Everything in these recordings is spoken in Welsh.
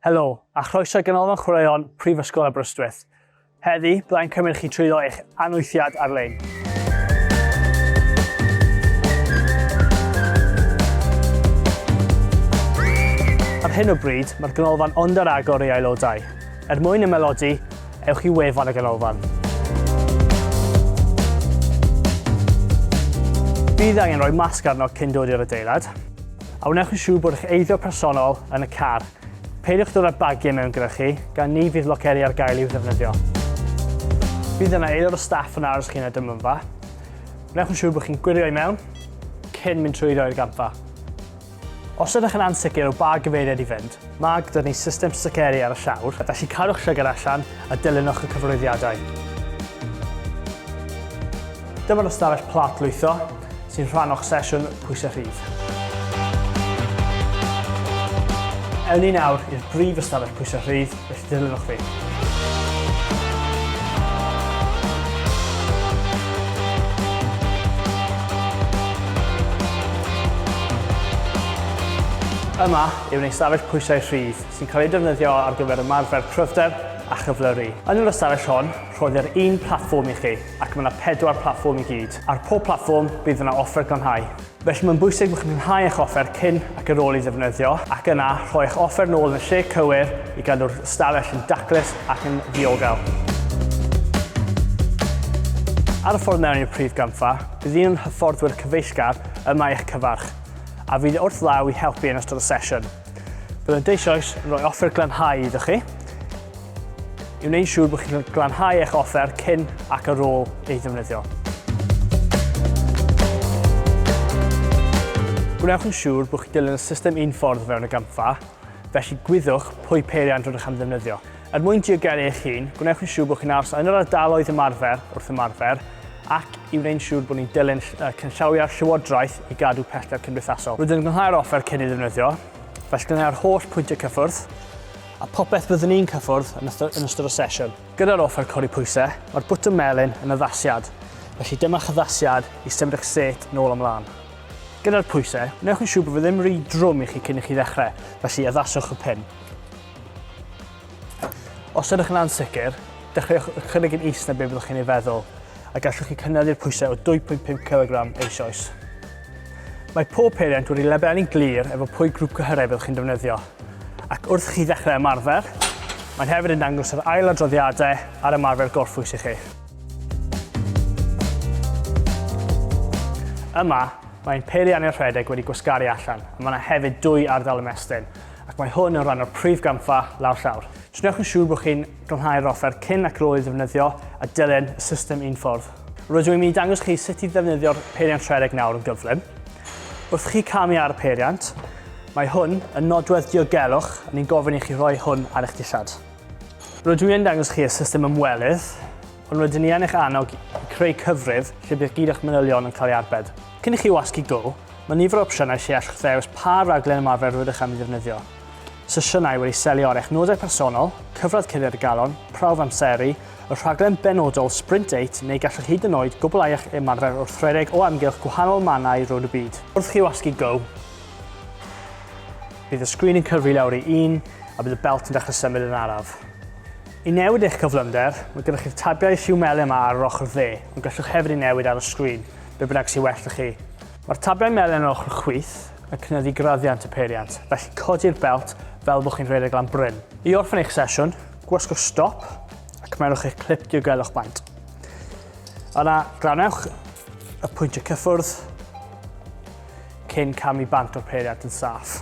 Helo, a chroeso i Ganolfan Chwaraeon Prifysgol Aberystwyth. Heddi, byddai'n cymryd chi trwyddo eich anwythiad ar-lein. Ar hyn o bryd, mae'r ganolfan ond ar agor ei aelodau. Er mwyn ymaelodi, ewch i wefan y ganolfan. Bydd angen rhoi masg arno cyn dod i'r adeilad. A wnewch yn siŵr bod eich eiddo personol yn y car. Peidiwch dod â bagiau mewn gyda chi, gan ni fydd loceri ar gael i'w ddefnyddio. Bydd yna aelod o staff yn aros chi yn y dymynfa. Wnewch yn siŵr bod chi'n gwirio i mewn cyn mynd trwyddo i'r gampfa. Os ydych yn ansicr o ba gyfeiriad i fynd, Mae gyda ni system sticeri ar y llawr, felly cadwch llygad allan a dilynwch y cyfarwyddiadau. Dyma'r ystafell plat lwytho sy'n rhan o'ch sesiwn pwysau rhydd. Ewn ni nawr i'r brif ystafell pwysau rhydd, felly dilynwch fi. Yma, yw'n ystafell pwysau rhydd sy'n cael ei defnyddio ar gyfer ymarfer cryfder a chyflyru. Yn yr ystafell hon, rhoddir un platfform i chi, ac mae yna pedwar platfform i gyd. Ar pob platfform, bydd yna offer glanhau. Felly mae'n bwysig bod chi'n glanhau eich offer cyn ac ar ôl ei ddefnyddio, ac yna rhoi eich offer yn ôl yn y lle cywir i gadw'r ystafell yn daclus ac yn ddiogel. Ar y ffordd mewn i'r prif gampfa, bydd un o'n hyfforddwyr cyfeillgar yma i'ch cyfarch. a fydd wrth law i helpu yn ystod y sesiwn. Byddant eisoes yn rhoi offer glanhau iddo chi, i wneud siŵr bod chi'n glanhau eich offer cyn ac ar ôl ei ddefnyddio. Gwnewch yn siŵr bod chi'n dilyn y system un ffordd o fewn y gampfa, felly gwyddwch pwy peiriant rydych am ddefnyddio. Er mwyn diogelu eich hun, gwnewch yn siŵr bod chi'n aros yn yr ardaloedd ymarfer wrth ymarfer ac i wneud siŵr bod ni'n dilyn cynllawiau'r Llywodraeth i gadw pellter cymdeithasol. Rydyn yn gynhau'r offer cyn ei ddefnyddio, felly gwneu'r holl pwyntiau cyffwrdd a phopeth byddwn ni'n cyffwrdd yn ystod y sesiwn. Gyda'r offer codi pwysau, mae'r bwtwm melyn yn addasiad, felly dyma'ch addasiad i symud eich set nôl a mlaen. Gyda'r pwysau, gwnewch yn siŵr bod fe ddim rhy drwm i chi cyn i chi ddechrau, felly addaswch y pin. Os ydych yn ansicr, dechreuwch â chynnig yn is na beth byddwch chi'n ei feddwl, a gallwch chi cynyddu'r pwysau o 2.5 cilogram eisoes. Mae pob peiriant wedi lebelu'n glir efo pwy grŵp cyhyrau byddwch chi'n defnyddio, ac wrth chi ddechrau ymarfer, mae'n hefyd yn dangos yr ail adroddiadau ar ymarfer gorffwys i chi. Yma, mae ein peiriannydd rhedeg wedi gwasgaru allan, a mae yna hefyd dwy ardal ymestyn. ac mae hwn yn rhan o'r prif gampfa lawr llawr. Trwnewch yn siŵr bod chi'n glanhau'r offer cyn ac rôl ei ddefnyddio a dilyn y system un ffordd. Rydw i'n mynd i dangos chi sut i ddefnyddio'r peiriant rhedeg nawr yn gyflym. Wrth chi camu ar y peiriant, mae hwn yn nodwedd diogelwch a ni'n gofyn i chi rhoi hwn ar eich dillad. Rydw i yn dangos chi y system ymwelydd, ond rydyn ni yn eich annog i creu cyfrif lle bydd gyd o'ch manylion yn cael ei arbed. Cyn i chi wasgu go, Mae nifer o opsiynau lle allwch ddewis pa raglen ymarfer rydych am ei ddefnyddio. Sesiynau wedi selio ar eich nodau personol, cyfradd cuddiad y galon, prawf amseru, y rhaglen benodol Sprint 8 neu gallwch hyd yn oed gwblhau eich ymarfer wrth redeg o amgylch gwahanol mannau rownd y byd. Wrth chi wasgu go! Bydd y sgrin yn cyfri lawr i un a bydd y belt yn dechrau symud yn araf. I newid eich cyflymder, mae gyda chi'r tabiau lliw melyn yma ar yr ochr dde, ond gallwch hefyd ei newid ar y sgrin. be bynnag sy'n well 'da chi. Mae'r tablau melyn ar ochr chwith yn cynyddu graddiant y peiriant, felly codi'r belt fel bod chi'n rhedeg lan bryn. I orffen eich sesiwn, gwasgwch stop a cymerwch eich clip diogelwch maint. Yna, glanewch y pwyntiau cyffwrdd cyn camu bant o'r peiriant yn saff.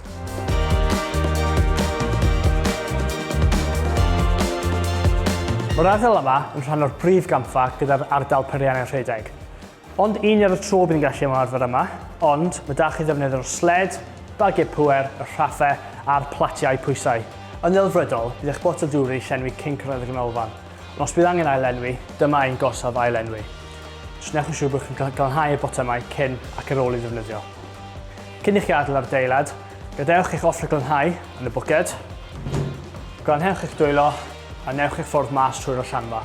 Mae'r ardal yma yn rhan o'r brif gampfa gyda'r ardal Periannau Rhedeg. Ond un ar y tro bydd yn gallu ymarfer yma, ond mae da chi ddefnydd o'r sled, bagiau pŵer, y rhaffau a'r platiau pwysau. Yn ddelfrydol, bydd eich botel dŵr wedi llenwi cyn cyrraedd y ganolfan. Os bydd angen ail-lenwi, dyma ein gorsaf ail-lenwi. Newch yn siŵr bod chi'n glanhau y botymau cyn ac ar ôl ei ddefnyddio. Cyn i chi adael ar adeilad, gadewch eich offer glanhau yn y bwced, glanhewch eich dwylo a newch eich ffordd mas trwy'r allanfa.